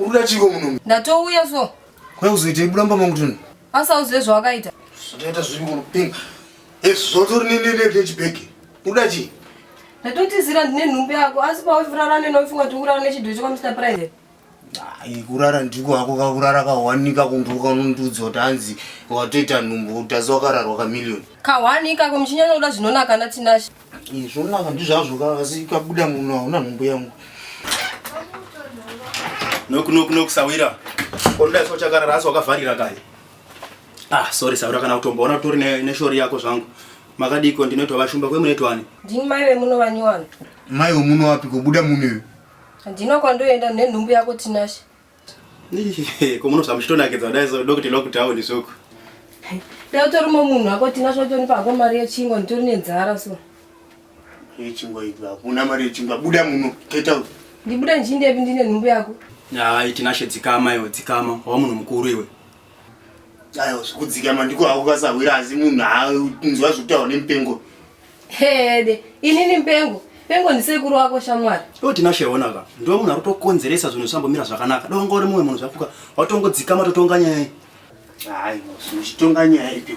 Uruda chiko muno. Ndatouya so. Kwa uzoita ibuda mba mangu tun. Asa uzive zvawakaita. Zvotoita zviri kuno pink. Yes, zvotori ne ne ne chibag. Uruda chi? Ndatotizira ndine nhumbu yako asi pa wafurara ne nofunga kuti urara ne chidhucho kwa Mr. Private. Ai kurara ndiko hako kakurara kawanika kunduka unondiudza kuti hanzi watoita nhumbu utazi wakararwa ka million. Kawanika ko muchinyanya kuda zvinonaka na Tinashe. Zvonaka ndizvazvo ka asi kabuda munhu hauna nhumbu yangu. Noku noku noku sawira. Koda so chakarara asi wakavharira kai. Ah sorry sawira kana kutomboona kutori ne, ne shori yako zvangu. Makadiko ndinoitwa vashumba kwe munoitwani. Ndini mai vemuno vanyowani. Mai vemuno wapi kubuda munhu. Ndino kwandoenda nenhumbu yako Tinashe. Ko munobva muchitonakidza kudai so ndokuti lockdown soko. Dai utori munhu wako tina zvotonipa hako mari yechingwa nditori nenzara so. Yechingwa ibva hakuna mari yechingwa buda muno get out. Ndibuda ndichindepi ndine nhumbu yako. Hayi Tinashe dzikama iwe dzikama wava munhu mukuru iwe. Ayo zvikudzikama ndiko hako kasahwira asi munhu haanzwa zvekutaura nemupengo. Hede, inini mpengo. Pengo ndisekuru wako shamwari. Iwe Tinashe ona ka. Ndiwe munhu akutokonzeresa zvinhu zvambomira zvakanaka. Dai wanga uri mumwe munhu zvafuka. Watongodzika matotonga nyaya iyi. Hayi, muchitonga nyaya ipi?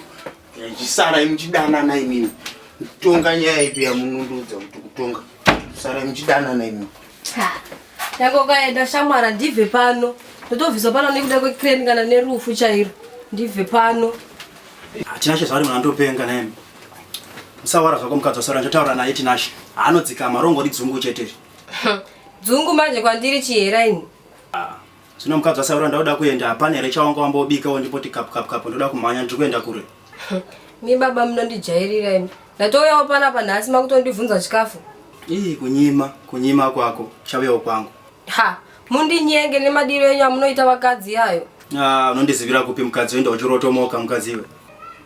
Yachisara imuchidanana imini. Tonga nyaya ipi yamunundudza kuti kutonga. Sara imuchidanana imini. Ha. Yako kaenda shamwara ndibve pano. Ndotobviswa pano nekuda kwecrane kana nerufu chairo. Ndibve pano. Tinashe zvaari mwana ndopenga naye. Musawara zvako mukadzi wasora ndotaura naye Tinashe. Haanodzikama rongori dzungu chete. Dzungu manje kwandiri chihera ini. Ah. Zvino mukadzi wasaura ndauda kuenda hapana here chawanga wambobikawo ndipoti kapu kapu kapu ndoda kumhanya ndiri kuenda kure. Mi baba munondijairira imi. Ndatouyawo panapa nhasi makutondibvunza chikafu. Ii kunyima kunyima kwako chauyawo kwangu. Ha mundinyenge nemadiro enyu amunoita vakadzi yayo. Ah unondizivira kupi mukadzi wenda uchirotomoka mukadzi iwe.